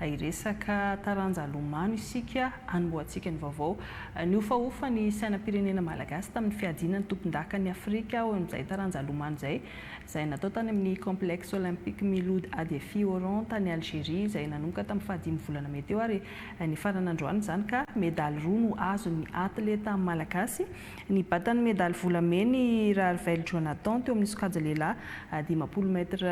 Hiresaka taranja lomano isika hanombohantsika ny vaovao. Nihofahofa ny sainam-pirenena malagasy tamin'ny fiadiana ny tompondakan'i Afrika ho an'izay taranja lomano izay, izay natao tany amin'ny Complexe Olympique Miloud Adeffi Oran tany Algerie izay nanomboka tamin'ny fahadimy volana mey teo ary nifarana androany izany ka medaly roa no azon'ny atleta malagasy. Nibata ny medaly volamena i Raharivelo Jonathan teo amin'ny sokajy lehilahy dimampolo mètres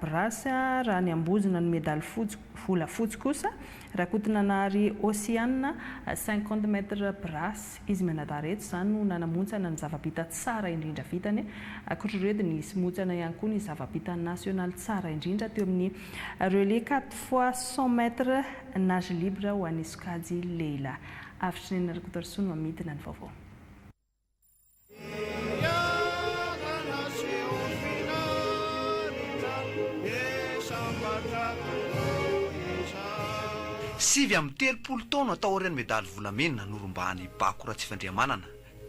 brasse, raha niambozona ny medaly fotsy, volafotsy, kosa Rakotonanahary Hosiana, cinquante mètres brasse. Izy mianadahy reto izany no nanamontsana ny zava-bita tsara indrindra vitany. Ankoatra ireo dia nisy montsana ihany koa ny zava-bita nasionaly tsara indrindra teo amin'ny relais quatre fois cent mètres nage libre ho an'ny sokajy lehilahy. Avitr'Neny Rakotoarisoa no amidina ny vaovao. Sivy amby telopolo taona taorian'ny medaly volamena norombahan'i Bako Ratsifandrihamanana,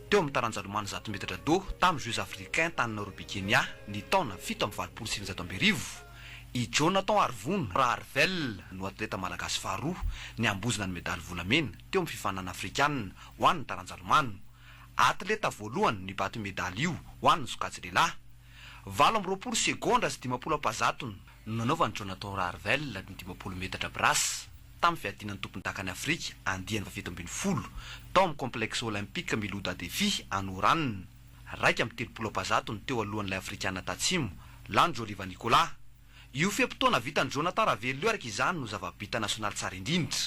Teo amin'ny taranja lomano zato metatra do tamin'ny Jeux africains tany Nairobi Kenya ny taona fito amby valopolo sy sivinjato amby arivo, i Jonathan Harivony Raharivell no atleta malagasy faharoa niambozona ny medaly volamena teo amin'ny fifaninana afrikanina ho an'ny taranja lomano. Atleta voalohany nibaty io medaly io ho an'ny sokajy lehilahy. Valo amby roapolo segondra sy dimampolo ampahazatony no nanaovan'i Jonathan Rarvel ny dimampolo metatra brasse tamin'ny fiadiana ny tompondakan'i Afrika andiany fahafito ambin'ny folo tao amin'ny Complexe Olympique Milouda Defi any Oran, iraika amby telopolo ampazato ny teo alohan'ilay Afrikana Tatsimo, Lanjoliva Nicolas. Io fe-potoana vitan'i Jonathan Ravel io araka izany no zava-bita nasionaly tsara indrindra.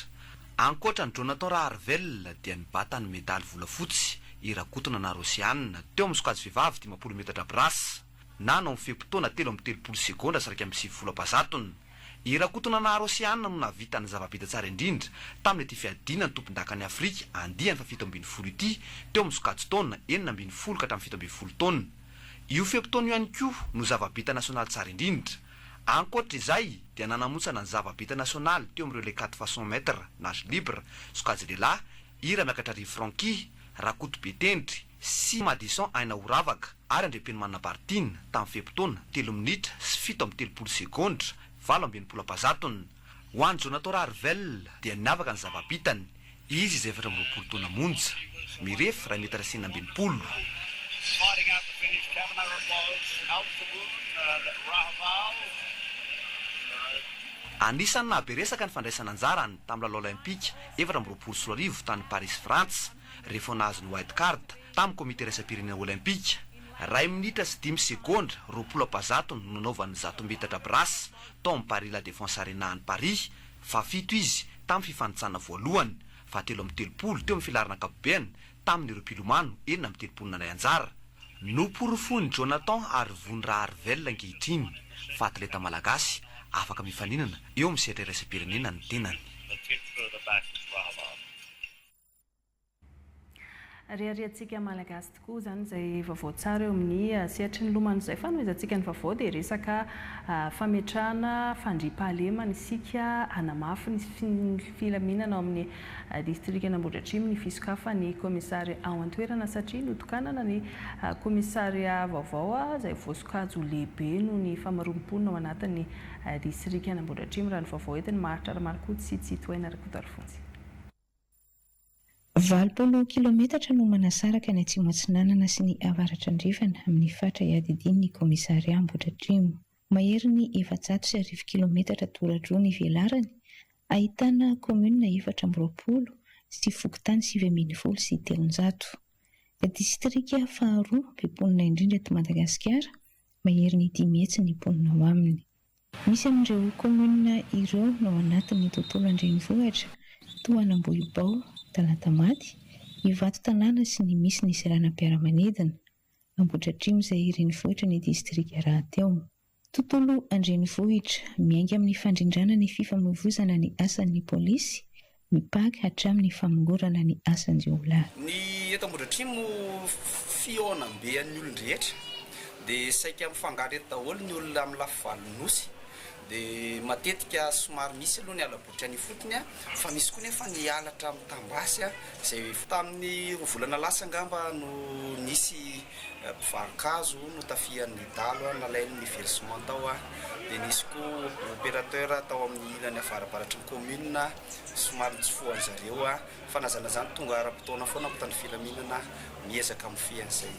Ankoatra an'i Jonathan Rarvel dia nibata ny medaly volafotsy i Rakotonana Rosianne teo amin'ny sokajy vehivavy dimampolo metatra brasse. Nano amin'ny fe-potoana telo amby telopolo segondra sy iraika amby sivifolo am-pahazatony. I Rakotonanahary Oceane no nahavita ny zava-bita tsara indrindra tamin'ity fiadiana ny tompondakan'i Afrika andiany fahafito ambin'ny folo ity teo amin'ny sokajin-taona enina ambin'ny folo ka hatramin'ny fito ambin'ny folo taona. Io fe-potoana io ihany koa no zava-bita nasionaly tsara indrindra. Ankoatra izay dia nanamontsana ny zava-bita nasionaly teo amin'ireo les quatre fois cent mètres nage libre, sokajy lehilahy, i Ramiakatra Rivo Francky, Rakoto Betendry, sy Madison Aina Horavaka ary Andriampenomanana Bartine tamin'ny fe-potoana, telo minitra sy fito amby telopolo segondra, valo amby enimpolo am-pahazatony. Ho an'i Jonathan Rarivel dia niavaka ny zava-bitany, izy izay efatra amby roapolo taona monja, mirefy iray metatra sy enina amby enimpolo. Anisan'ny nahabe resaka ny fandraisan'anjarany tamin'ny lalao Olympika efatra amby roapolo sy roa arivo tany Parisy Frantsa. re vao nahazo ny wild card tamin'ny komite iraisam-pirenena Olympika. Iray minitra sy dimy segondra roapolo ampazato no nanaovany ny zato metatra brasse tao amin'ny Paris La Défense Arena any Paris, fahafito izy tamin'ny fifanintsanana voalohany, fahatelo amby telopolo teo amin'ny filaharana ankapobeny tamin'ireo mpilomano enina amby telopolo nandray anjara. Noporofoin'i Jonathan Harivony Raharivelona ankehitriny fa atleta malagasy afaka mifaninana eo amin'ny sehatra iraisam-pirenena ny tenany. Reharehantsika Malagasy tokoa izany izay vaovao tsara eo amin'ny sehatry ny lomano izay fanomezantsika ny vaovao dia resaka fametrahana fandriampahalemana isika hanamafy ny filaminana ao amin'ny distrikan'Ambohidratrimo ny fisokafan'ny kaomisary ao an-toerana satria notokanana ny kaomisaria vaovao izay voasokajy lehibe noho ny famaroam-ponina ao anatin'ny distrikan'Ambohidratrimo raha ny vaovao entin'i Maharitra Ramarikoto sy Tsitohaina Rakotoalfonjy. Valopolo kilaometatra no manasaraka ny Atsimo Atsinanana sy ny Avaratra Andrefana amin'ny faritra iadidian'ny kaomisaria Ambohidratrimo. Maherin'ny efajato sy arivo kilaometatra toradroa ny velarany, ahitana kaominina efatra amby roapolo sy fokontany sivy ambin'ny folo sy telonjato. Distrika faharoa be mponina indrindra eto Madagasikara, maherin'ny dimy hetsy ny mponina ao aminy. Misy amin'ireo kaominina ireo no ao anatin'ny tontolo an-drenivohitra, toa an'Ambohibao, Talatamaty, Ivato tanàna sy ny misy ny seranam-piaramanidina, Ambohidratrimo izay renivohitry ny distrika rahateo. Tontolo an-drenivohitra, miainga amin'ny fandrindrana ny fifamoivoizana ny asan'ny polisy, ny Paka hatramin'ny famongorana ny asan-jiolahy. Ny eto Ambohidratrimo fihaonambe an'ny olon-drehetra dia saika mifangaro eto daholo ny olona amin'ny lafy valin'ny Nosy dia matetika somary misy aloha ny hala-botry any ifotony fa misy koa nefa ny halatra mitam-basy izay tamin'ny roa volana lasa angamba no nisy Mpivarokazo notafihan'ny dahalo nalainy ny versement tao dia nisy koa opérateur tao amin'ny ilany avarabaratry ny commune somary nitsofohan'ny zareo fa na zany na zany tonga ara-potoana foana mpitandro ny filaminana miezaka mifehy an'izay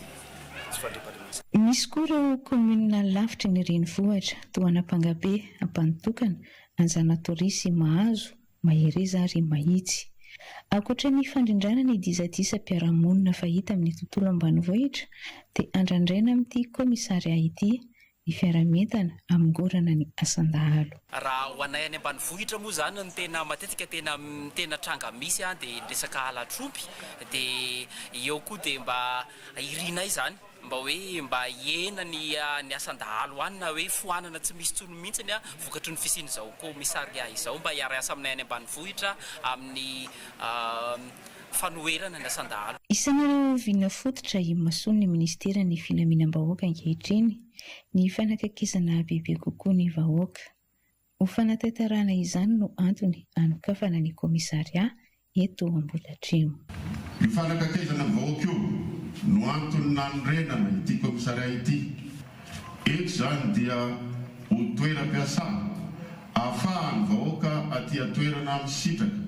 tsy fandriampahalemana izay. Misy koa ireo commune lavitry ny renivohitra toa an'Ampangabe, Ampanotokana, Anjanatoria sy Mahazo mahereza ary mahitsy. Ankoatra ny fandrindrana ny disadisam-piarahamonina fahita amin'ny tontolo ambanivohitra dia andrandraina amin'ity kaomisarià ity ny fiaraha-mientana hamongorana ny asan-dahalo. Raha ho anay any ambanivohitra moa izany ny tena matetika tena tena tranga misy dia ny resaka halatr'omby dia eo koa dia mba irinay izany. mba hoe mba hihena ny ny asan-dahalo any na hoe foanana tsy misy intsony mihitsiny vokatry ny fisian'izao commissariat izao mba hiara-hiasa aminay any ambanivohitra amin'ny fanoherana ny asan-dahalo. Isan'ireo vinona fototra imason'ny minisiteran'ny filaminam-bahoaka ankehitriny ny fanakakisana bebe kokoa ny vahoaka. Ho fanatanterahana izany no antony hanokafana ny kaomisarià eto Ambohidratrimo. Io fanakatezana ny vahoaka io no antony nanorenana ity kaomisarià ity. Eto izany dia ho toeram-piasà ahafahan'ny vahoaka aty an-toerana misitraka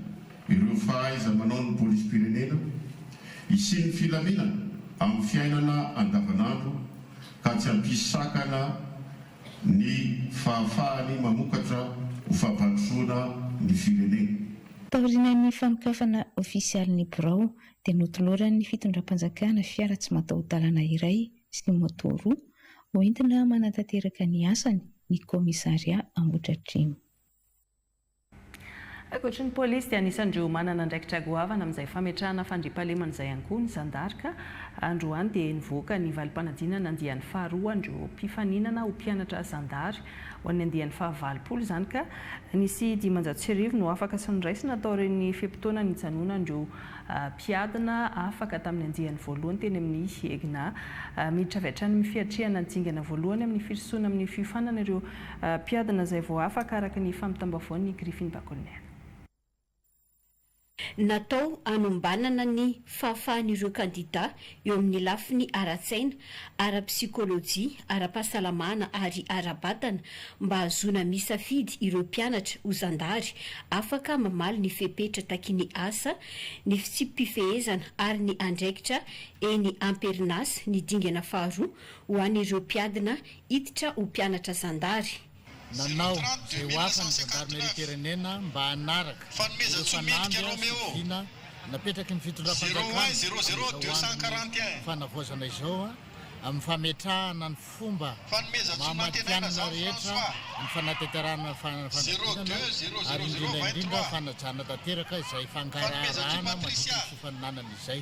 ireo fahaiza-manaon'ny polisim-pirenena, hisian'ny filaminana amin'ny fiainana andavanandro ka tsy hampisy sakana ny fahafahany mamokatra ho fampandrosoana ny firenena. Taorian'ny fanokafana ofisialy ny birao dia notoloran'ny fitondram-panjakana fiara tsy mataho-dalana iray sy ny moto roa hoentina manatanteraka ny asany ny kaomisaria Ambohidratrimo. Ankoatry ny polisy dia anisan'ireo manana andraikitra goavana amin'izay fametrahana fandriampahalemana izay ihany koa ny zandarika. Androany dia nivoaka ny valim-panadinana andiany faharoa an'ireo mpifaninana ho mpianatra zandary ho an'ny andiany fahavalopolo izany ka nisy dimanjato sy arivo no afaka sy noraisina taorian'ny fe-potoana nijanonan'ireo mpiadina afaka tamin'ny andiany voalohany teny amin'ny EGNA. Miditra avy hatrany amin'ny fiatrehana ny dingana voalohany amin'ny firosoana amin'ny fiofanana ireo Mpiadina izay vao afaka araka ny fampitam-baovao ny Griffin Bakoniana. Natao hanombanana ny fahafahan'ireo kandidà eo amin'ny lafiny ara-tsaina, ara-psikolojia, ara-pahasalamana ary ara-batana mba hahazoana misafidy ireo mpianatra ho zandary afaka mamaly ny fepetra takin'ny asa, ny fitsipi-pifehezana ary ny andraikitra eny am-perinasa ny dingana faharoa ho an'ireo mpiadina Hiditra ho mpianatra zandary. Nanao izay ho afany ny zandarimeriam-pirenena mba hanaraka ireo fanamby sy fidina napetraky ny fitondram-panjakana amin'izao andron'ny fanavaozana izao amin'ny fametrahana ny fomba maha matihanina rehetra ny fanatanterahana fanadinana ary indrindra indrindra fanajana tanteraka izay fangaraharahana mandritra ny fifaninanana izay.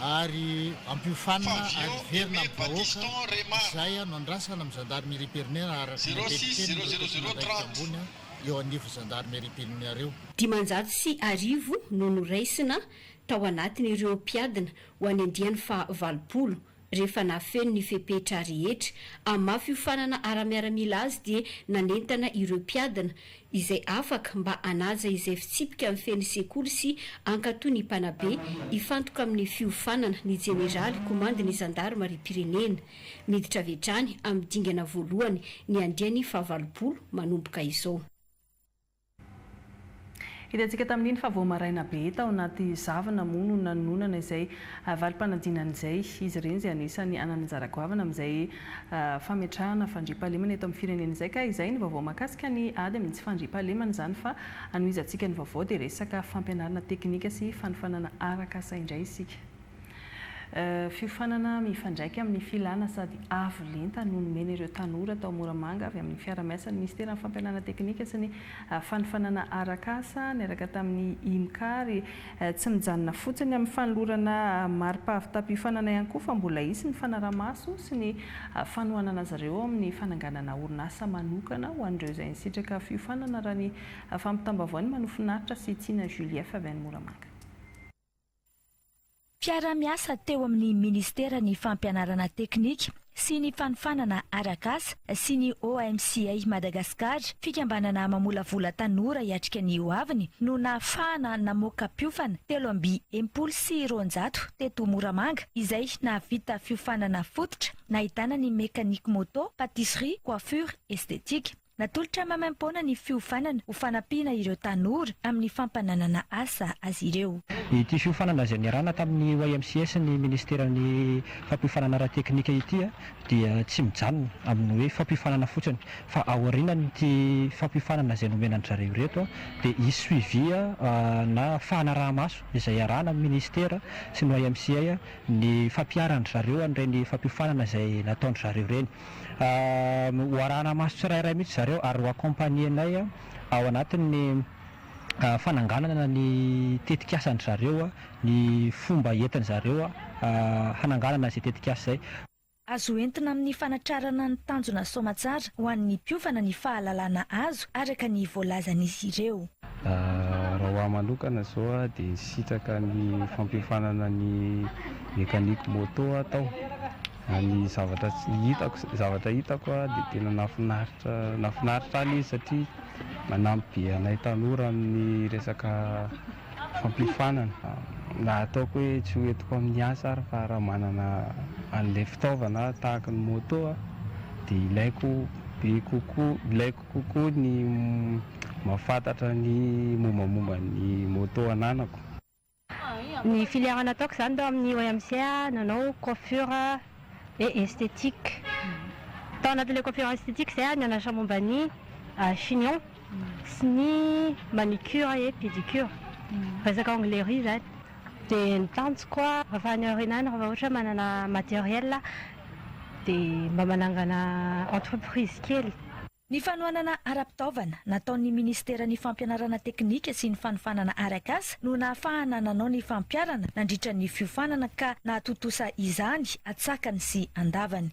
ary ampiofanina ary hiverina amin'ny vahoaka izay no andrasana amin'ny Gendarmerie Perinera araka ny antenimienin'ireo tompon'andraikitra ambony eo anivon'ny Gendarmerie Perinera. Dimanjato sy arivo no noraisina tao anatin'ireo mpiadina ho any andiany faha valopolo Rehefa nahafeno ny fepetra rehetra hamafy hiofanana ara-miaramila azy dia nanentana ireo mpiadina izay afaka mba hanaja izay fitsipika mifehy ny sekoly sy hankatò ny mpanabe hifantoka amin'ny fiofanana ny jeneraly komandin'ny zandarimariam-pirenena. Miditra avy hatrany amin'ny dingana voalohany ny andiany fahavalopolo manomboka izao. Hitantsika tamin'iny fa vao maraina be tao anaty zavona moa no nanononana izay valim-panadinana izay izy ireny izay anisany hanana anjara goavana amin'izay fametrahana fandriampahalemana eto amin'ny firenena izay ka izay ny vaovao mahakasika ny ady amin'ny tsy fandriampahalemana izany fa anohizantsika ny vaovao dia resaka fampianarana teknika sy fanofanana arak'asa indray isika. Fiofanana mifandraika amin'ny filàna sady avo lenta no nomena ireo tanora tao Moramanga avy amin'ny fiaraha-miasan'ny Minisiteran'ny Fampianarana Teknika sy ny Fanofanana Arak'asa niaraka tamin'ny IMK ary tsy mijanona fotsiny amin'ny fanolorana mari-pahavitàm-piofanana ihany koa fa mbola hisy ny fanarahamaso sy ny fanohanana azy ireo amin'ny fananganana orinasa manokana ho an'ireo izay nisitraka fiofanana raha ny fampitam-baovaon'ny Manofinaritra sy Tiana Julief avy any Moramanga. Mpiara-miasa teo amin'ny Ministeran'ny Fampianarana Teknika sy ny Fanofanana Arak'asa sy ny OMCA Madagascar, fikambanana mamolavola tanora hiatrika ny ho aviny, no nahafahana namoaka mpiofana telo amby enimpolo sy roanjato teto Moramanga izay nahavita fiofanana fototra nahitana ny mécanique moto, pâtisserie, coiffure, esthétique. Natolotra maimaim-poana ny fiofanana ho fanampiana ireo tanora amin'ny fampananana asa azy ireo. Ity fiofanana izay niarahana tamin'ny YMCA sy ny Ministeran'ny fampiofanana ara-teknika ity dia tsy mijanona amin'ny hoe fampiofanana fotsiny fa aorianan'ity fampiofanana izay nomena an-dry zareo ireto dia hisy suivi na fanaraha-maso izay iarahana amin'ny Ministera sy ny YMCA ny fampiharan-dry zareo an'ireny fampiofanana izay nataon-dry zareo ireny. ho arahana maso tsirairay mihitsy zareo ary ho accompagner-nay ao anatin'ny fananganana ny tetik'asan-dry zareo, ny fomba entin-dry zareo hananganana izay tetik'asa izay. Azo entina amin'ny fanatrarana ny tanjona soamatsara ho an'ny mpiofana ny fahalalana azo araka ny voalazan'izy ireo. Raha ho ahy manokana izao dia sitraka ny fampiofanana ny mécanique moto atao. Ny zavatra hitako, zavatra hitako a, dia tena nahafinaritra, nahafinaritra ahy le izy satria manampy be anay tanora amin'ny resaka fampiofanana, raha ataoko hoe tsy ho entiko amin'ny asa ary fa raha manana an'ilay fitaovana aho tahaka ny moto a, dia ilaiko be kokoa, ilaiko kokoa ny mahafantatra ny mombamomba ny moto ananako. Ny filière nataoko izany tao amin'ny OMC, nanao coiffure et esthétique. Tao anatin'ilay coiffure et esthétique izay aho nianatra momba ny chignon sy ny manicure et pédicure, resaka anglerie izany. Dia ny tanjoko rehefa any aoriana any, rehefa ohatra hoe manana matériel aho, dia mba manangana entreprise kely. Ny fanohanana ara-pitaovana nataon'ny Minisiteran'ny Fampianarana Teknika sy ny Fanofanana Arak'asa no nahafahana nanao ny fampiharana nandritra ny fiofanana ka nahatontosa izany atsakany sy andavany.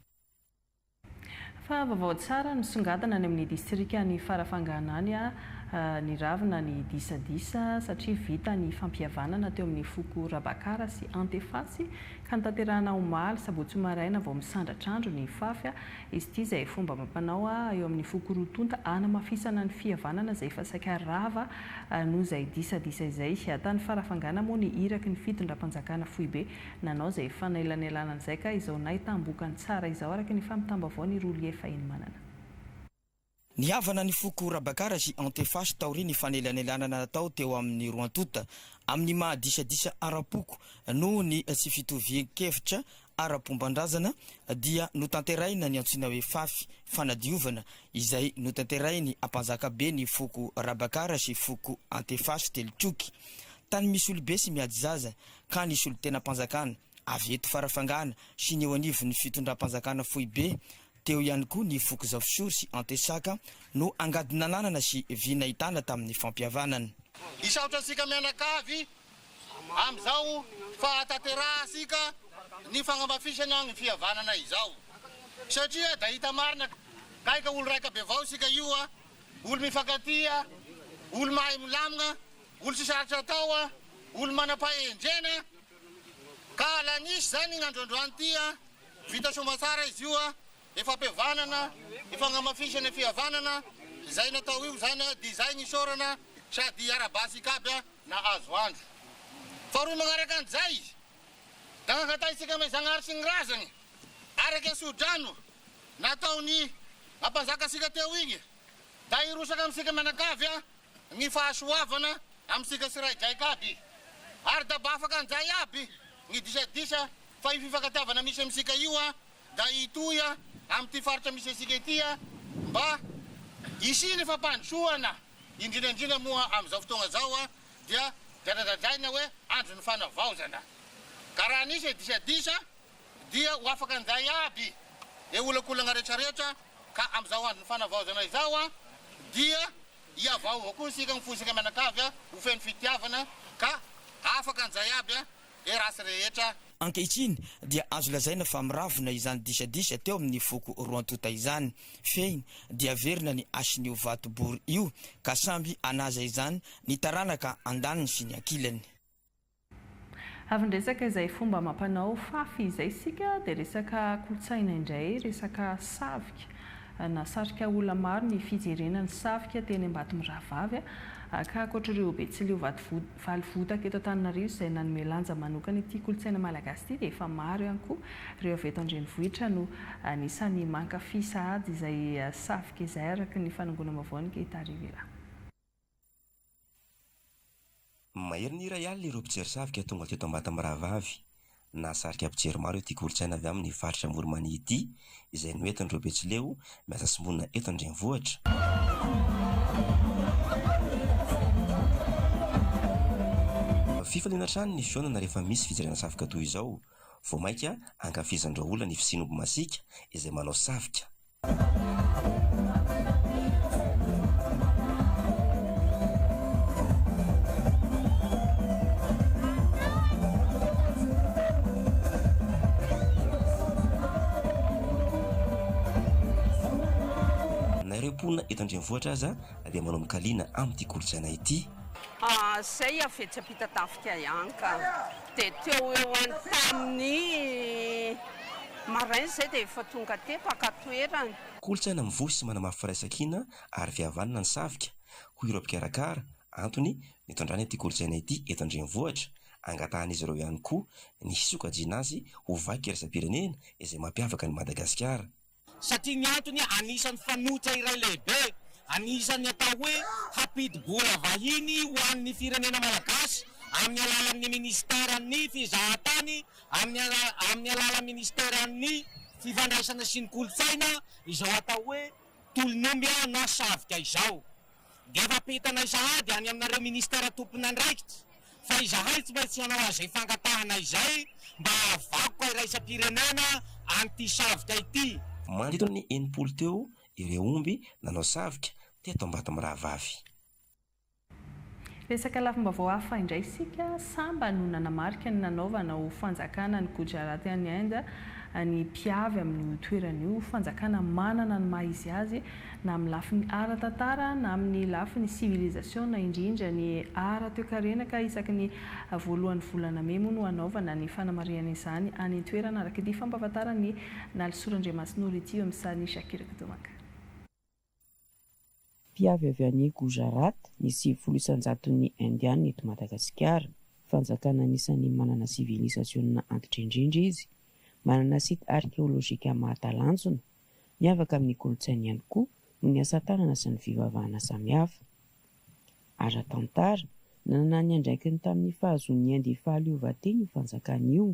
Fa vaovao tsara nisongadina any amin'ny Distrikan'i Farafangana any a! Niravona ny disadisa satria vita ny fampihavanana teo amin'ny foko Rabakara sy Antefasy ka notanterahina omaly sabotsy maraina vao misandratr'andro ny fafy Izy ity izay fomba amam-panao eo amin'ny foko roa tonta hanamafisana ny fihavanana izay efa saika rava noho izay disadisa izay. Tany Farafangana moa ny iraky ny fitondram-panjakana foibe nanao izay fanelanelanana izay ka izao nahitam-bokany tsara izao araka ny fampitam-baovaon'i Rolie Fahinimanana. Nihavana ny foko Rabakara sy Antefasy taorian'ny fanelanelanana natao teo amin'ny roa tonta amin'ny maha disadisa ara-poko noho ny tsy fitovian-kevitra ara-pomban-drazana dia notanterahina ny antsoina hoe Fafy fanadiovana izay notanterahin'ny Ampanjakabe ny foko Rabakara sy foko Antefasy telo troky tany Misolibe sy Miadizaza ka ny solontenam-panjakana Avy eto Farafangana sy ny eo anivon'ny fitondram-panjakana foibe teo ihany koa ny foko Zafisoro sy Antesaka no angady nananana sy vy nahitana tamin'ny fampihavanana. Hisaotra antsika mianakavy amin'izao fahatanterahantsika ny fagnamafisana ny fihavanana izao satria da hita marina kay ka olo raika bevao isika io a, olo mifankatia, olo mahay milamina, olo tsy sarotra atao, olo manam-pahendrena. Ka lanisy zany iny androandroany ity an! Vita soa tsara izy io an! Efa ampihavanana, efa agnamafisana fihavanana izay natao io zany an! Dia zay ny isaorana sady ara-basy ikaby an! Nahazo andro faharoa magnaraka an'izay izy da nangatahintsika amin'i Zagnahary sy ny razany araka ny soa-drano nataony nampanzaka antsika teo igny. Mba hirosaka amintsika mianakavy ny fahasoavana amintsika sy raidraika aby. Ary da mba afaka anjay aby ny disadisa fa io fifankatiavana misy amintsika io da hitohy amin'ity faritra misy antsika ity mba hisian'ny fampandrosoana indrindra indrindra moa amin'izao fotoagna zao dia dradradradraina hoe andron'ny fanavaozana ka raha nisy disadisa Dia ho afaka njay aby e olakolagna rehetra rehetra ka amzao andro ny fanavaozana izao a dia hiavaova koa isika ny foisika mianakavy a ho feno fitiavana ka afaka njay aby a e race rehetra. Ankehitriny dia azo lazaina fa miravona izany disadisa teo amin'ny foko roantota izany, fehiny dia averina ny hasin'io vato bory io ka samby hanaza izany ny taranaka andaniny sy ny ankilany. Avy niresaka izay fomba amam-panao fafy izay isika dia resaka kolontsaina indray, resaka safika. Nahasarika olona maro ny fijerena ny safika teny Ambatomirahavavy ka ankoatr'ireo Betsileo valo votaka eto Antananarivo izay nanome lanja manokana ity kolontsaina malagasy ity dia efa maro ihany koa ireo avy eto an-drenivohitra no anisan'ny mankafy sahady izay safika izay araka ny fanangonam-baovao ny Gita Rivila. Maherin'ny iray alina ireo mpijery savoka tonga teto Ambata mirahavavy. Nahasarika mpijery maro ity kolontsaina avy amin'ny faritra Amoronmania ity, izay noentin'ireo Betsileo miasa sy monina eto an-drenivohitra. Fifaliana hatrany ny fihaonana rehefa misy fijerena savoka toy izao. Vao mainka ankafizan'ireo olona ny fisian'omby masiaka izay manao savoka. Na ireo mponina eto an-drenivohitra aza dia manao mikaliana amin'ity kolontsaina ity. Izay avy etsy am-pitatafika ihany ka. Dia teo ho eo any tamin'ny maraina izay dia efa tonga aty mpaka an-toerana. Kolontsaina mivoy sy manamafy firaisankina ary fihavanana ny Savika, hoy ireo mpikarakara, antony nitondrana ity kolontsaina ity eto an-drenivohitra. Angatahan'izy ireo ihany koa ny hisokajiana azy ho vaky iraisam-pirenena izay mampiavaka an'i Madagasikara. Satria ny antony anisan'ny fanoitra iray lehibe anisan'ny atao hoe hampidi-bola vahiny ho an'ny firenena malagasy amin'ny alalan'ny minisiteran'ny fizahantany amin'ny alalan'ny minisiteran'ny fifandraisana sy ny kolontsaina izao atao hoe tolon'omby na savika izao. dia efa ampitana sahady any aminareo ministera tompon'andraikitra fa izahay tsy maintsy hanao azay fangatahana izay mba hahavakoka iraisam-pirenena an'ity savika ity. Manodidina ny enimpolo teo ireo omby nanao savika teto Ambatomirahavavy. Resaka lafim-baovao hafa indray isika, samba no nanamarika ny nanaovana ho fanjakana an'i Gujarat any Inde ny mpiavy amin'io toerana io, fanjakana manana ny maha izy azy na amin'ny lafiny ara-tantara na amin'ny lafiny sivilizasiona, indrindra ny ara-toekarena ka isaky ny voalohan'ny volana mey moa no hanaovana ny fanamarihana izany any an-toerana araka ity fampahafantaran'i Nalisoa Randriamasinoro ity eo amin'ny sarin'i Shakir Kdumaka. Mpiavy avy any Gujarat ny sivifolo isan-jaton'ny Indiana eto Madagasikara. Fanjakana anisan'ny manana sivilisasiona antitra indrindra izy. Manana site arkeolojika mahatalanjona. Miavaka amin'ny kolontsainy ihany koa noho ny asa tanana sy ny fivavahana samihafa. Ara-tantara, nanana ny andraikiny tamin'ny fahazoan'ny India fahaleovantena io fanjakana io.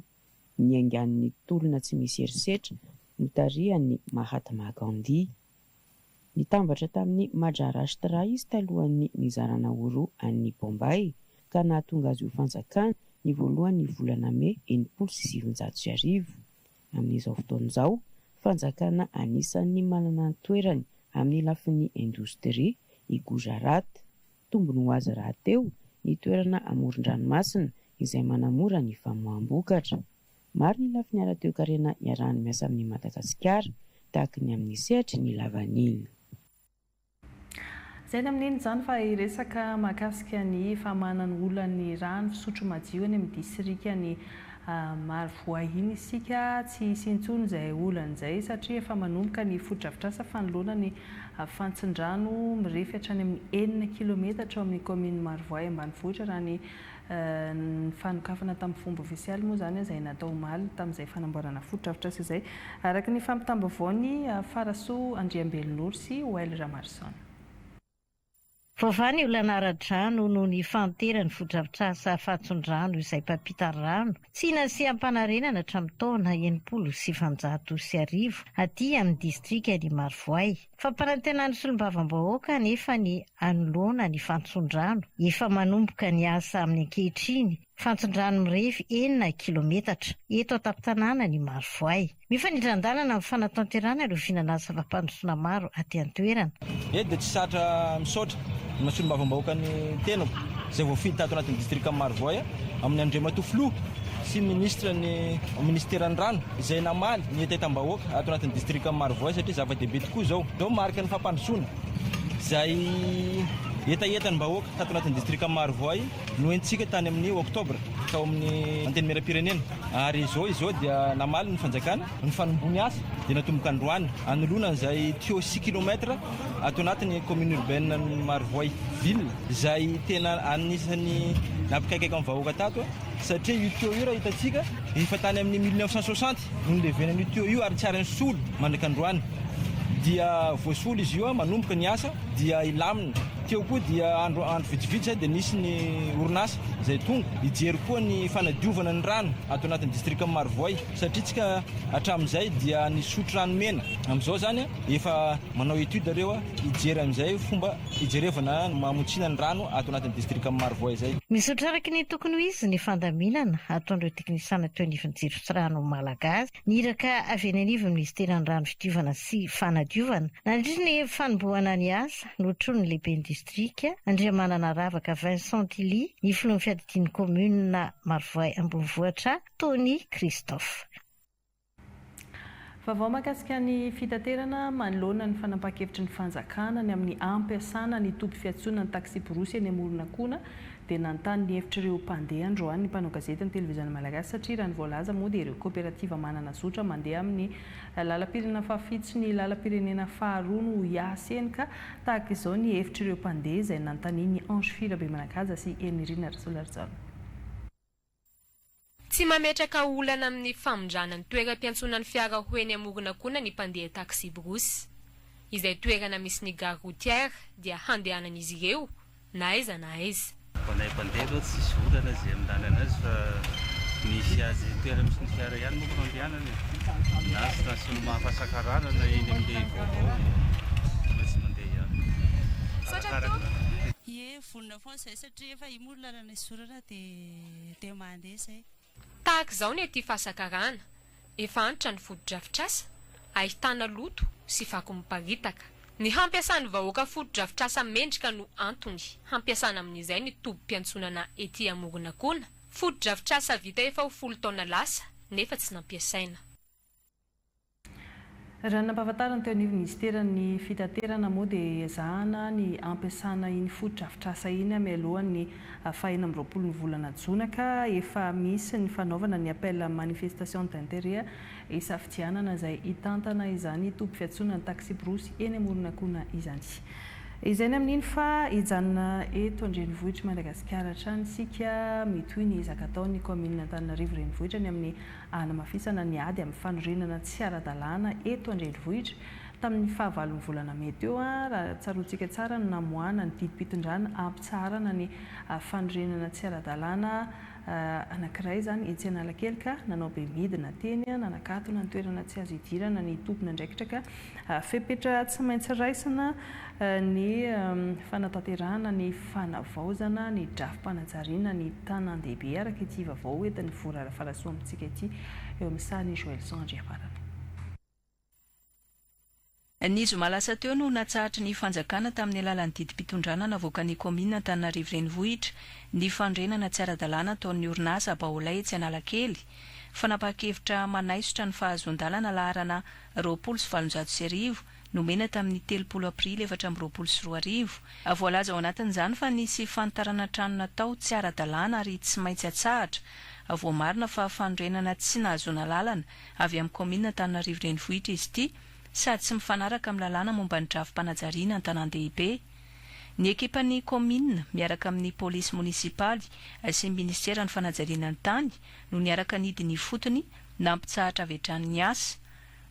Ny aingan'ny tolona tsy misy herisetra notarihan'i Mahatma Gandhi. Nitambatra tamin'ny Majarashtra izy talohan'ny nizarana ho roa an'i Bombay, ka nahatonga azy ho fanjakana ny voalohan'ny volana May enimpolo sy sivinjato sy arivo. Amin'izao fotoana izao, fanjakana anisan'ny manana ny toerany amin'ny lafiny indostria i Gujarat. Tombony ho azy rahateo ny toerana amoron-dranomasina izay manamora ny famoaham-bokatra. Maro ny lafiny ara-toekarena iarahany miasa amin'i Madagasikara, tahaka ny amin'ny sehatry ny lavanila. Izay ny amin'iny izany fa hiresaka mahakasika ny famahanan'ny olona ny rano fisotro madio any amin'ny disirikan'i Marovoay iny isika. Tsy hisy intsony izay olana izay satria efa manomboka ny fotodrafitrasa fanoloana ny fantsin-drano mirefy hatrany amin'ny enina kilometatra ao amin'ny kaominin'i Marovoay ambanivohitra raha ny Ny fanokafana tamin'ny fomba ofisialy moa izany izay natao omaly tamin'izay fanamboarana fotodrafitrasa izay, araka ny fampitam-baovaon'i Farasoa Andriambelonoro sy Well Ramarison. Voavaha ny olana ara-drano noho ny fahanteran' ny fotodrafitrasa Fahatson-drano izay mpampita rano tsy nasiam-panarenana hatramin'ny taona enimpolo sy sivinjato sy arivo aty amin'ny distrikan' i Marovoay, Fampanantenan'ny solombavambahoaka anefa ny hanoloana ny fantson-drano efa manomboka ny asa amin'ny ankehitriny, fantson-drano mirefy enina kilaometatra, eto an-tampon-tanànan' i Marovoay. Mifanindran-dalana amin'ny fanatanterahana ireo vinanasa fampandrosoana maro aty an-toerana. Eto dia tsy zatra misaotra. Ny solombavambahoakan'ny tenako izay voafidy tato anatin'ny distrikan'i Marovoay amin'ny Andriamatoa Filoha sy Minisitra ny Minisiteran'ny Rano izay namaly ny hetahetam-bahoaka ato anatin'ny distrikan'i Marovoay satria zava-dehibe tokoa izao. Izao mariky ny fampandrosoana izay hetahetan'ny vahoaka tato anatin'ny distrikan'i Marovoay no entintsika tany amin'ny Oktobra tao amin'ny Antenimierampirenena ary izao izao dia namaly ny fanjakana Ny fanombohan'ny asa dia natomboka androany, hanoloana an'izay tuyau six kilomètres ato anatin'ny commune urbaine ny Marovoay ville, izay tena anisan'ny nampikaikaika ny vahoaka tato, satria io tuyau io raha hitantsika, efa tany amin'ny mille neuf cent soixante no nilevenan'io tuyau io ary tsy ary nisolo mandraka androany, dia voasolo izy io, manomboka ny asa dia hilamina. Teo koa dia andro andro vitsivitsy izay dia nisy ny orinasa izay tonga hijery koa ny fanadiovana ny rano ato anatin'ny distrikan'i Marovoay. Satria tsika hatramin'izay dia nisotro rano mena, amin'izao izany efa manao étude reo hijery amin'izay fomba hijerevana ny mamotsiana ny rano ato anatin'ny distrikan'i Marovoay izay. Nizotra araka ny tokony ho izy ny fandaminana ataon'ireo teknisana teo anivon'ny jiroftsirano Malagasy ny iraka avy eny anivon'ny minisiteran'ny rano fidiovana sy fanadiovana. Nandritra ny fanombohana ny asa, notronin'ny lehiben'ny distrika, Andriamanana Ravaka Vincent Tilly, ny filohan'ny fiadidian'ny kaominina Marovoay ambonivohitra, Tony Christophe. Vaovao mahakasika ny fitaterana manoloana ny fanapahan-kevitry ny fanjakana ny amin'ny hampiasana ny toby fiantsoana ny taksiborosy eny Amoronakona dia nanontany ny hevitr'ireo mpandeha androany ny mpanao gazety ny Televiziona Malagasy satria raha ny voalaza moa dia ireo koperativa manana zotra mandeha amin'ny lalam-pirenena fahafitsy ny lalam-pirenena faharoa no hiasn ka tahaka izao ny hevitr'ireo mpandeha izay nanontanian'i Ange Firabemanakaja sy Henirina Rasolarijaona. Tsy mametraka olana amin'ny famindrana ny toeram-piantsonan'ny fiara ho eny Amorona koa na ny mpandeha taxi-brousse. Izay toerana misy ny gare routière dia handehanan'izy ireo na aiza na aiza. Ho anay mpandeha aloha tsisy olana izay amindanana azy fa misy azy toerana misy ny fiara ihany moa no handehanana e. Na station Mahafasakarana na eny amin'ny vaovao dia tsy mandeha ihany. Arakaraka. Ny lalana isorana dia dia mandeha izay. Tahaka izao ny aty Fasakarana, efa antitra ny fotodrafitrasa, ahitana loto sy fako miparitaka. Ny hampiasan'ny vahoaka fotodrafitrasa mendrika no antony hampiasana amin'izay ny tobim-piantsonana ety Amoronakona, fotodrafitrasa vita efa ho folo taona lasa nefa tsy nampiasaina. Raha ny nampahafantariny teo anivon'ny minisiteran'ny fitaterana moa dia ezahana ny hampiasana iny fotodrafitrasa iny mialohan'ny faha enina amby roapolo ny volana jona ka efa misy ny fanaovana ny appel à manifestation d'interet hisafidianana izay hitantana izany toby fiantsonana ny taksiborosy eny Amoronakona izany. Izay ny amin'iny fa hijanona eto an-drenivohitr'i Madagasikara hatrany isika mitohy ny ezaka ataon'ny kaominina Antananarivo Renivohitra ny amin'ny. hanamafisana ny ady amin'ny fanorenana tsy ara-dalàna eto an-drenivohitra. Tamin'ny fahavalon'ny volana mey teo, raha tsaroantsika tsara no namoahana ny didim-pitondrana hampitsaharana ny fanorenana tsy ara-dalàna anankiray izany etsy Analakely ka nanao bemidina teny nanakatona ny toerana tsy azo hidirana ny tompon'andraikitra ka Fepetra tsy maintsy raisina ny fanatanterahana ny fanavaozana ny drafi-panajariana ny tanàn-dehibe araka ity vaovao hoentin'i Vora Rafalasoa amintsika ity, eo amin'ny sarin'i Joëlson Andriafarana. Ny zoma lasa teo no natsahatry ny fanjakana tamin'ny alalan'ny didim-pitondrana navoakan'ny kaominina Antananarivo Renivohitra ny fanorenana tsy ara-dalàna ataon'ny orinasa Baolay etsy Analakely, fanapahan-kevitra manaisotra ny fahazoan-dalana laharana roapolo sy valonjato sy arivo, nomena tamin'ny telopolo aprily efatra amby roapolo sy roa arivo. Voalaza ao anatin'izany fa nisy fanitarana trano natao tsy ara-dalàna ary tsy maintsy atsahatra. Voamarina fa fanorenana tsy nahazoana alalana avy amin'ny kaominina Antananarivo Renivohitra izy ity sady tsy mifanaraka amin'ny lalàna momba ny drafi-panajariana an-tanàn-dehibe. Ny ekipan'ny kaominina, miaraka amin'ny polisy monisipaly sy minisiteran'ny fanajariana ny tany no niaraka nidina ifotony Nampitsahatra avy hatrany ny asa.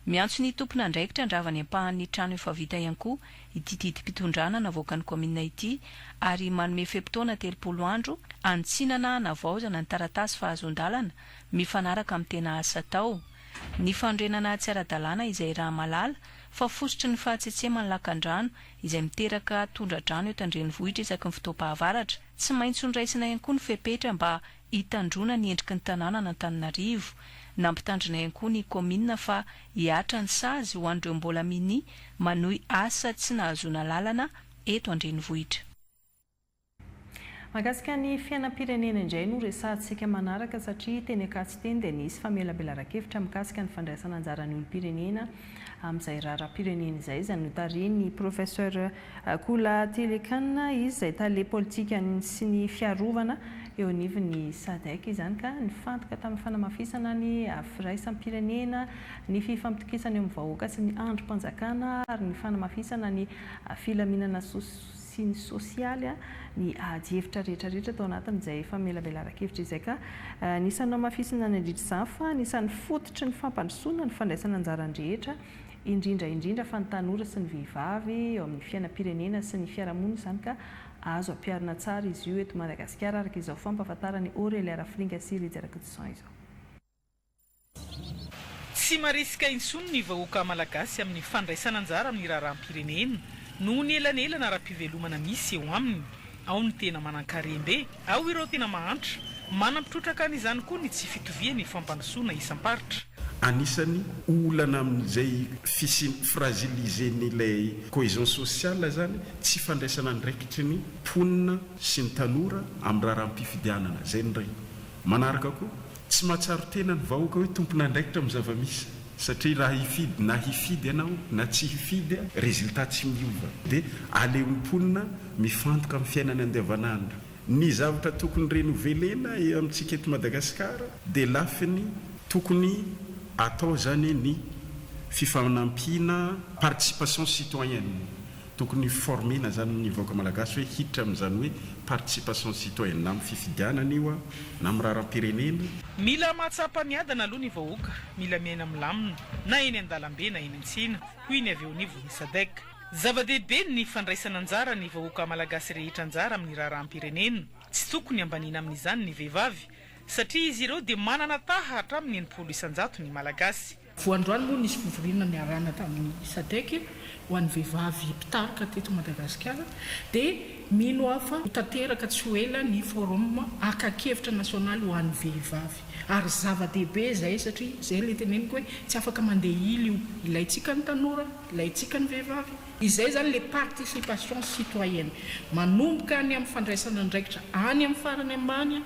Miantso ny tompon'andraikitra handrava ny ampahan'ny trano efa vita ihany koa ity didim-pitondrana navoakan'ny kaominina ity ary manome fe-potoana telopolo andro hanitsinana hanavaozana ny taratasy fahazoan-dalana mifanaraka amin'ny tena asa atao. Ny fanorenana tsy ara-dalàna izay raha mahalala fa fositry ny fahatsetseman'ny lakandrano izay miteraka tondra-drano eto an-drenivohitra isaky ny fotoam-pahavaratra. Tsy maintsy hondraisana ihany koa ny fepetra mba hitandroana ny endriky ny tanànan'Antananarivo. Nampitandrina ihany koa ny kaominina fa hihatra ny sazy ho an'ireo mbola minia manohy asa tsy nahazoana lalana eto an-drenivohitra. Mahakasika ny fiainam-pirenena indray no resahantsika manaraka satria teny Ankatso teny dia nisy famelabelaran-kevitra mikasika ny fandraisana anjaran'ny olom-pirenena amin'izay raharaham-pirenena izay, izay notarihin'ny Professeur. Akula Tilikan izy izay tale politikan'ny sy ny fiarovana eo anivon'ny Sadc izany ka nifantoka tamin'ny fanamafisana ny firaisam-pirenena, ny fifampitokisana eo amin'ny vahoaka sy ny andrim-panjakana ary ny fanamafisana ny filaminana sy ny sosialy ny adihevitra rehetrarehetra tao anatin'izay famelabelaran-kevitra izay ka anisan'ny nohamafisina nandritra izany fa anisan'ny fototry ny fampandrosoana ny fandraisana anjaran'ny rehetra indrindra indrindra fa ny tanora sy ny vehivavy eo amin'ny fiainam-pirenena sy ny fiarahamonina izany ka azo ampiharina tsara izy io eto Madagasikara araka izao fampahafantaran'i Aurelia Rafilinga sy Rija Rakitison izao. Tsy marisika intsony ny vahoaka malagasy amin'ny fandraisana anjara amin'ny raharaham-pirenena noho ny elanelana ara-pivelomana misy eo aminy. Ao ny tena manan-karem-be, ao ireo tena mahantra. Manampy trotraka an'izany koa ny tsy fitovian'ny fampandrosoana isam-paritra. Anisany olana amin'izay fisian'ny fragilisen'ilay cohesion sociale izany, tsy fandraisana andraikitry ny mponina sy ny tanora amin'ny raharaham-pifidianana. Izay ny iray. Manaraka koa. Tsy mahatsaro tena ny vahoaka hoe tompon'andraikitra amin'ny zava-misy satria raha hifidy na hifidy ianao na tsy hifidy, résultat tsy miova dia aleon'ny mponina mifantoka amin'ny fiainany andavanandro. Ny zavatra tokony renovelena amintsika eto Madagasikara dia lafiny tokony atao izany ny fifanampiana, participation citoyenne, Tokony former-na zany ny vahoaka malagasy hoe hiditra amin'izany hoe participation citoyenne na amin'ny fifidianana io a, na amin'ny raharam-pirenena. Mila mahatsapa miadana aloha ny vahoaka, mila miaina milamina, na eny an-dalambe na eny an-tsena, hoy ny avy eo anivon'ny Sadec. Zava-dehibe ny fandraisana anjara ny vahoaka malagasy rehetra anjara amin'ny raharaham-pirenena. Tsy tokony ambaniana amin'izany ny vehivavy, satria izy ireo dia manana taha hatramin'ny enimpolo isan-jato ny Malagasy. Vao androany moa nisy fivoriana niarahana tamin'ny Sadec ho an'ny vehivavy mpitarika teto Madagasikara dia mino aho fa ho tanteraka tsy ho ela ny forum akan-kevitra nasionaly ho an'ny vehivavy ary zava-dehibe izay satria izay ilay teneniko hoe tsy afaka mandeha ily io ilaintsika ny tanora, ilaintsika ny vehivavy. Izay izany ilay participation citoyenne manomboka any amin'ny fandraisana andraikitra any amin'ny farany ambany.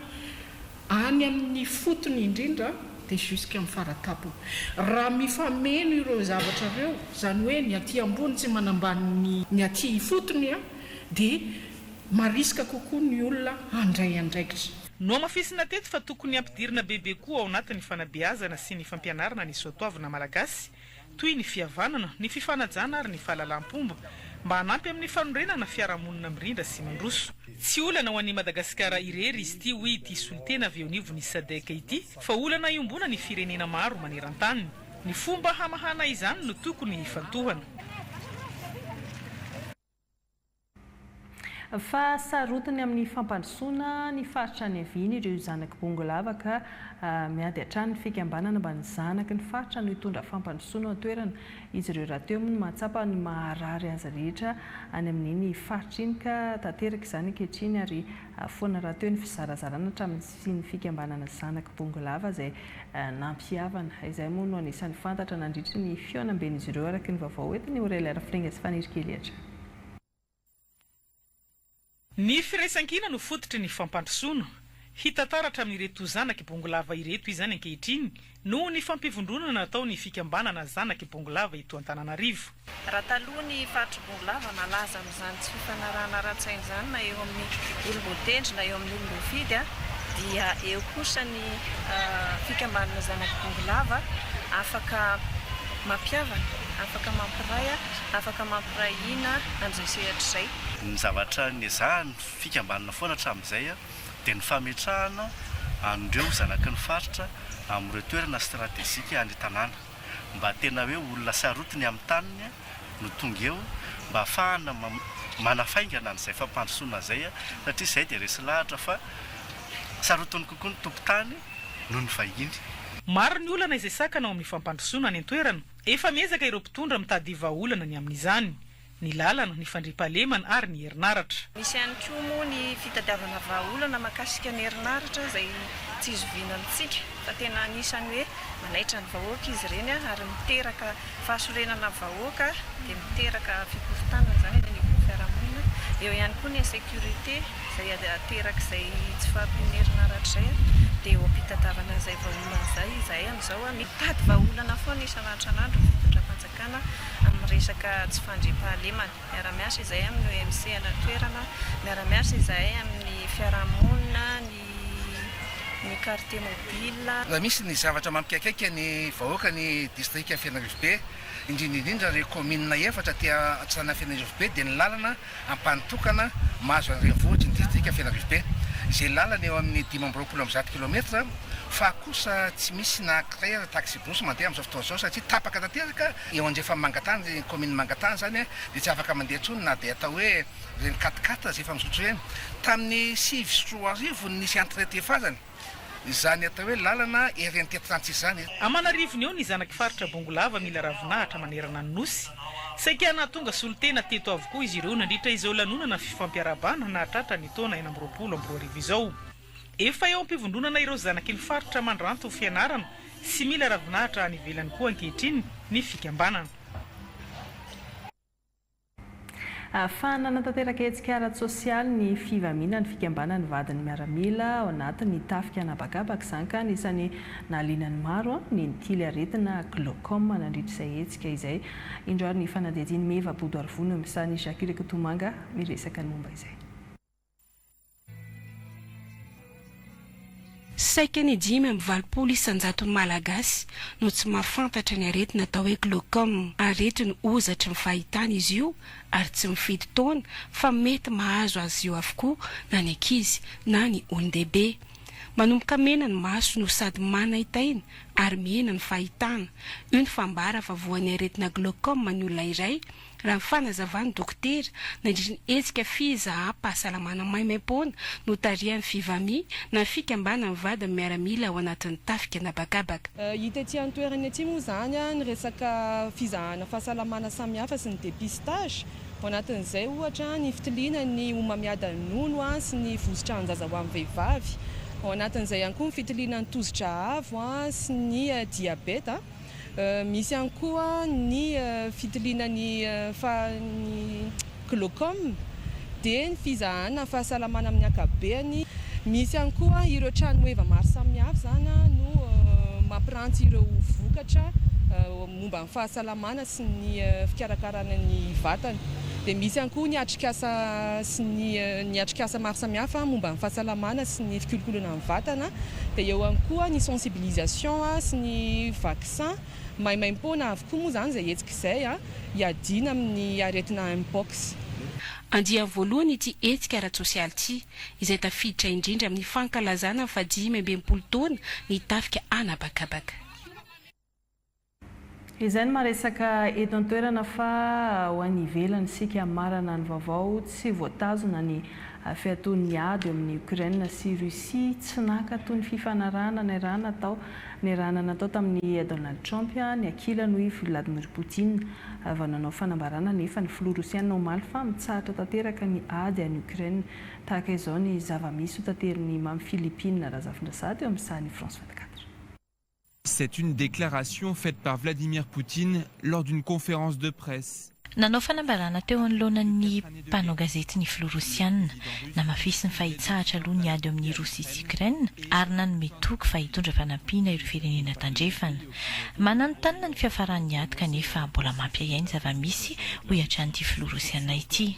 Any amin' ny fotony indrindra dia jusqu'à ny fara-tampony. Raha mifameno ireo zavatra ireo, izany hoe ny aty ambony tsy manambany ny ny aty ifotony a, dia mariska kokoa ny olona handray andraikitra. Nohamafisina teto fa tokony hampidirina bebe koa ao anatin' ny fanabeazana sy ny fampianarana ny soatoavina malagasy, toy ny fihavanana, ny fifanajana ary ny fahalalam-pomba, mba hanampy amin'ny fanorenana fiarahamonina mirindra sy mandroso. Tsy olana ho an'i Madagasikara irery izy ity, hoy ity solontena avy eo anivon'ny Sadec ity, fa olana iombonan'ny firenena maro maneran-tany. Ny fomba hamahana izany no tokony hifantohana. Fa sarotiny amin'ny fampandrosoana ny faritra any Haviny ireo zanak'i Bongolava ka miady hatrany ny fikambanana mba ny zanaky ny faritra no hitondra fampandrosoana ao an-toerana. Izy ireo rahateo moa no mahatsapa ny maha-rary azy rehetra any amin'iny faritra iny ka tanteraka izany ankehitriny ary foana rahateo ny fizarazarana hatramin'izay. sy ny fikambanana Zanaky Bongolava izay nampihavana. Izay moa no anisan'ny fantatra nandritry ny fihaonamben'izy ireo araka ny vaovao hoentin'i Aurelia Rafiringa sy Fanirikely hatrany. Ny firaisankina no fototry ny fampandrosoana. Hita taratra amin'ireto Zanaky Bongolava ireto izany ankehitriny Noho ny fampivondronana nataon' ny fikambanana Zanak' i Bongolava eto Antananarivo. Raha taloha ny faritr'i Bongolava malaza amin' izany tsy fifanarahana ara-tsaina izany na eo amin' ny olom-boatendry na eo amin' ny olom-boafidy dia eo kosa ny fikambanana Zanak' i Bongolava afaka mampihavana, afaka mampiray, afaka mampiray hina an' izao sehatra izay. Ny zavatra nezahany fikambanana foana hatramin' izay dia ny fametrahana an'ireo zanaky ny faritra amin'ireo toerana stratejika any tanàna mba tena hoe olona sarotiny amin'ny taniny no tonga eo mba hafahana manafaingana an'izay fampandrosoana izay satria izay dia resy lahatra fa sarotiny kokoa ny tompon-tany noho ny vahiny. Maro ny olana izay sakana ao amin'ny fampandrosoana any an-toerana, efa miezaka ireo mpitondra mitady vahaolana ny amin'izany. ny lalana, ny fandriampahalemana ary ny herinaratra. Misy ihany koa moa ny fitadiavana vahaolana mahakasika ny herinaratra izay tsy zoviana amintsika fa tena anisan'ny hoe manaitra ny vahoaka izy ireny ary miteraka fahasorenana ny vahoaka dia miteraka fikorontanana izany eny anivon'ny fiarahamonina. Eo ihany koa ny insécurité izay aterak'izay tsy fahampian'ny herinaratra izay dia eo am-pitadiavana izay vahaolana izay izahay amin'izao mitady vahaolana foana isan' antranandro ny fitondram-panjakana. Fanjakana amin'ny resaka tsy fandriampahalemana. Miara-miasa izahay amin'ny OMC any an-toerana, miara-miasa izahay amin'ny fiarahamonina, ny ny quartier mobile. Raha misy ny zavatra mampiaikaika ny vahoaka ny distrika Fianarivobe, indrindra indrindra ireo kaominina efatra aty an-tsanan'Fianarivobe dia ny lalana Ampahany tokana mahazo ny renivohitry ny distrika Fianarivobe, izay lalana eo amin'ny dimy amby roapolo amby zato kilometatra, fa kosa tsy misy na akraira taxi-bus mandeha amin'izao fotoana izao satria tapaka tanteraka eo andrefan'i Mangatany, ny kaominin'i Mangatany izany dia tsy afaka mandeha intsony na dia atao hoe ireny quat-quatre izay efa mizotry ireny. Tamin'ny sivy sy roa arivo no nisy entrée tefazany. izany atao hoe lalana ery antiantrantsy izany. Aman'arivony eo ny zanak'i faritra Bongolava mila ravinahitra manerana ny Nosy. Saika nahatonga solontena teto avokoa izy ireo nandritra izao lanonana fifampiarahabana nahatratra ny taona enina amby roapolo amby roa arivo izao. Efa eo am-pivondronana ireo zanaky ny faritra mandranto ho fianarana sy mila ravinahitra any ivelany koa ankehitriny ny fikambanana. Ahafahana hanatanteraka hetsika ara-tsosialy ny fivamiana ny fikambanan'ny vadin'ny miaramila ao anatin'ny tafika an'habakabaka izany ka anisan'ny nahaliana ny maro ny nitily aretina glaucome nandritra izay hetsika izay. Indro ary ny fanadihadian'i Meva Bodoarivony amin'ny sarin'i Jacques Rakotomanga miresaka ny momba izay. Saika ny dimy amby valopolo isan-jaton'ny Malagasy no tsy mahafantatra ny aretina atao hoe glaucome. Aretin'ny hozatry ny fahitana izy io ary tsy mifidy taona fa mety mahazo azy io avokoa na ny ankizy na ny olon-dehibe. Manomboka mena ny maso no sady manaintaina ary mihena ny fahitana. Io no fambara fa voan'ny aretina glaucome ny olona iray Raha ny fanazavan'ny dokotera, nandritry ny hetsika fizaham-pahasalamana maimaimpoana notarihan'ny Fivami, na fikambanan'ny vadin'ny miaramila ao anatin'ny tafika an'habakabaka, Hita ety an-toerana ety moa izany ny resaka fizahana fahasalamana samihafa sy ny dépistage, ao anatin'izay ohatra ny fitiliana ny homamiadan'ny nono sy ny vositran-jaza ho an'ny vehivavy, ao anatin'izay ihany koa ny fitiliana ny tosi-dra avo sy ny diabeta. Misy ihany koa ny fitiliana ny fahan'ny glaucome, dia ny fizahana fahasalamana amin'ny ankapobeany. Misy ihany koa ireo tranoheva maro samihafa izany no mampiranty ireo vokatra momba ny fahasalamana sy ny fikarakarana ny vatana. Dia misy ihany koa ny atrikasa sy ny atrikasa maro samihafa momba ny fahasalamana sy ny fikolokoloana ny vatana. vatana dia eo ihany koa ny sensibilisation sy ny vaccin maimaimpoana avokoa moa izany izay hetsika izay hiadiana amin'ny aretina Mpox. Andiany voalohany ity hetsika ara-tsosialy ity, izay tafiditra indrindra amin'ny fankalazana ny fahadimy amby enimpolo taona ny tafika an'habakabaka. Izay no maresaka eto an-toerana fa ho any ivelany isika marana ny vaovao, tsy voatazona ny fiatoan'ny ady eo amin'i Ukraine sy Russie, tsy naka toy ny fifanarahana niarahana tao niarahana natao tamin'i Donald Trump ny ankilany hoy i Vladimir Poutine vao nanao fanambarana anefa ny filoha Rosiana omaly fa mitsahatra tanteraka ny ady any Ukraine tahaka izao ny zava-misy hotaterin'i Mamy Philippine Razafindrazato eo amin'ny sahan'i France 24. C'est une déclaration faite par Vladimir Poutine lors d'une conférence de presse. Nanao fanambarana teo anoloana ny mpanao gazety ny filoha Rosiana. Namafisiny fa hitsahatra aloha ny ady eo amin'i Rosia sy Ukraine ary nanome toky fa hitondra fanampiana ireo firenena tandrefana. Mananontanona ny fiafaran'ny ady kanefa mbola mampiahiahy ny zava-misy, hoy hatrany ity filoha Rosiana ity.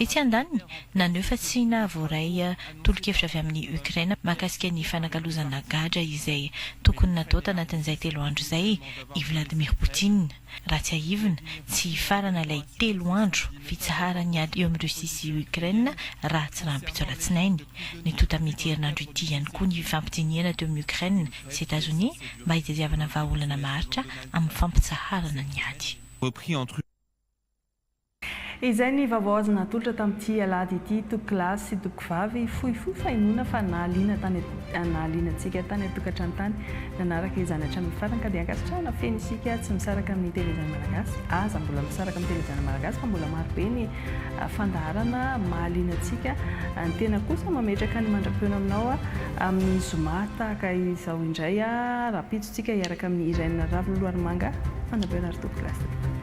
Etsy andaniny, naneho fa tsy nahavoaray tolo-kevitra avy amin'i Ukraine mahakasika ny fanakalozana gadra izay tokony natao tanatin'izay telo andro izay i Vladimir Poutine. Raha tsiahivina, tsy hifarana ilay telo andro fitsaharan'ny ady eo amin'i Russie sy Ukraine raha tsy rahampitso alatsinainy. Nitonta amin'ity herinandro ity ihany koa ny fampidinihana teo amin'i Ukraine sy Etazonia mba hitadiavana vahaolana maharitra amin'ny fampitsaharana ny ady. Izay ny vaovao azo natolotra tamin'ity alahady ity tokilahy sy tokovavy fohifohy fahenoana fa nahaliana tany nahaliana antsika tany an-tokantrano tany. Nanaraka izany hatramin'ny farany ka dia ankasitrahana feno isika tsy misaraka amin'ny Telejana Malagasy aza mbola misaraka amin'ny Telejana Malagasy fa mbola maro be ny fandaharana mahaliana antsika. Ny tena kosa mametraka ny mandra-peo aminao amin'ny zoma tahaka izao indray rahampitso tsika hiaraka amin'i Irène Ravololoaromanga, Fanabera ary tokilahy sy tokovavy.